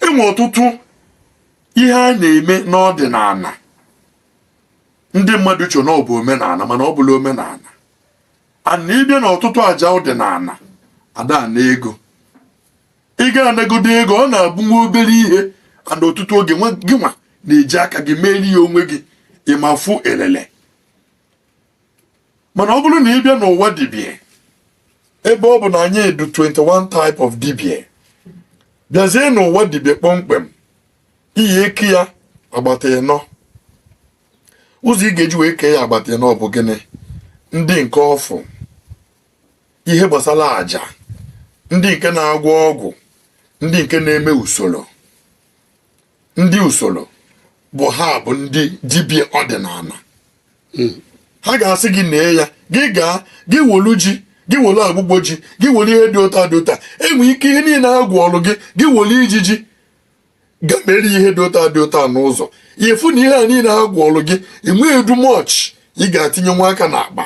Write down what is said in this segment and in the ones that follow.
enwe ọtụtụ ihe a na-eme n'ọdịnala ndị mmadụ chee na ọ bụ omenala mana ọ bụla omenala and ị bịa na ọtụtụ aja ọdịnala ada ana ego ị ga anagodo ego ọ na-abụ nwa obere ihe and ọtụtụ oge gị nwa na-eji aka gị meeli ya onwe gị ị ma afụ elele mana ọ bụrụ na ị bịa n'ụwa dibie ebe ọ bụ na anyị edu 21 type of dibie bịazie n'ụwa dibie kpọmkwem iyi eke ya agbata ịnọ ụzọ ị ga-eji wee kee ya agbata ịnọ ọ bụ gịnị ndị nke ọfụ ihe gbasara aja ndị nke na-agwọ ọgwụ ndị nke na-eme usoro ndị usoro bụ ha bụ ndị dibịa ọdịnala hmm. ha ga-asị gị nee ya gị gaa gị welu ji gị welu agbụgbọ ji gị welu ihe dị otu a dị otu a enwe ike ihe niile ha gụọlụ gị gị welu ijiji ga mere ihe dị otu a dị otu a n'ụzọ ị fụ na ihe a niile ha gụọlụ gị enwedu much ị ga-atinye nwa aka n'akpa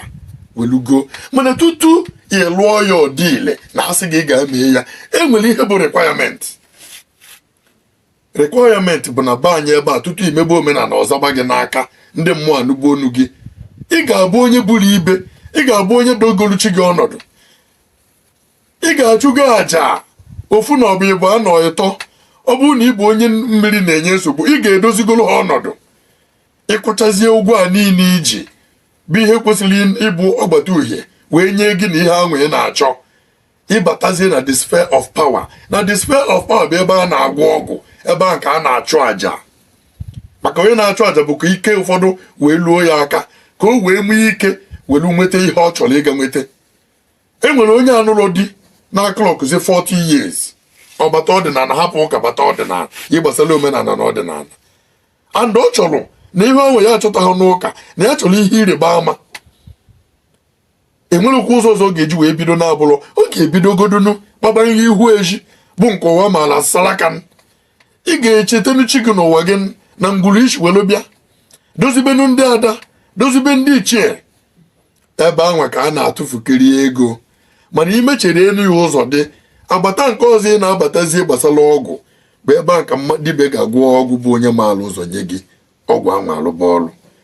welugo mana tutu ị lụọ ya ọ dị ile na asị gị gaa mee ya enwere ihe bụ requirement requirement bụ na be anyị ebe a tutu i mebe omenala ọ zaba gị n'aka ndị mmụọ anụba onu gị ị ga-abụ onye buru ibe ị ga-abụ onye dogolu chi gị ọnọdụ ị ga-achụgo aja ofu na ọ bụ ịbụa na ịtọ ọ bụrụ na ị bụ onye mmiri na-enye nsogbu ị ga-edozigoro ha ọnọdụ ị kwụchazie ụgwọ a niile i ji bụ ihe kwesịrị ịbụ ọgbata uhie wee nye gị na ihe anwa ị na-achọ ị batazie na the sphere of power na the sphere of power bụ ebe a na-agwọ ọgwụ ebe a ka a na-achụ àjà maka onye na-achụ àjà bụ ka ike ụfọdụ wee luo ya aka ka o wee nwee ike were nweta ihe ọ chọrọ ịga nweta e nwere onye anụrọ di na-aclockzi 40 years ọ bata ọdịnala hapụ ụka bata ọdịnala ihe gbasara omenala na ọdịnala and ọ chọrọ na ihe anwa ya achọtaghị n'ụka na ya chọrọ ihe ịrịba ama enwerekwa ụzọ ọzọ ọ ga-eji wee bido na-abụrọ ọ ga-ebidogodunu kpabanye ihu ezi bụ nke ụwa maala salaka ị ga-echetenụ chi gị n'ụwa gị na ngwuru i si welu bịa dozibenu ndị ada dozibe ndị ichie ebe anwa ka a na-atụfukịrị ego mana i mechere elu ya ụzọ dị agbata nke ọzọ ị na-abatazie gbasara ọgwụ bụ ebe a ka dibịa ga-agwọ ọgwụ bụ onye maalụ ụzọ nye gị ọgwụ anwa alụba ọrụ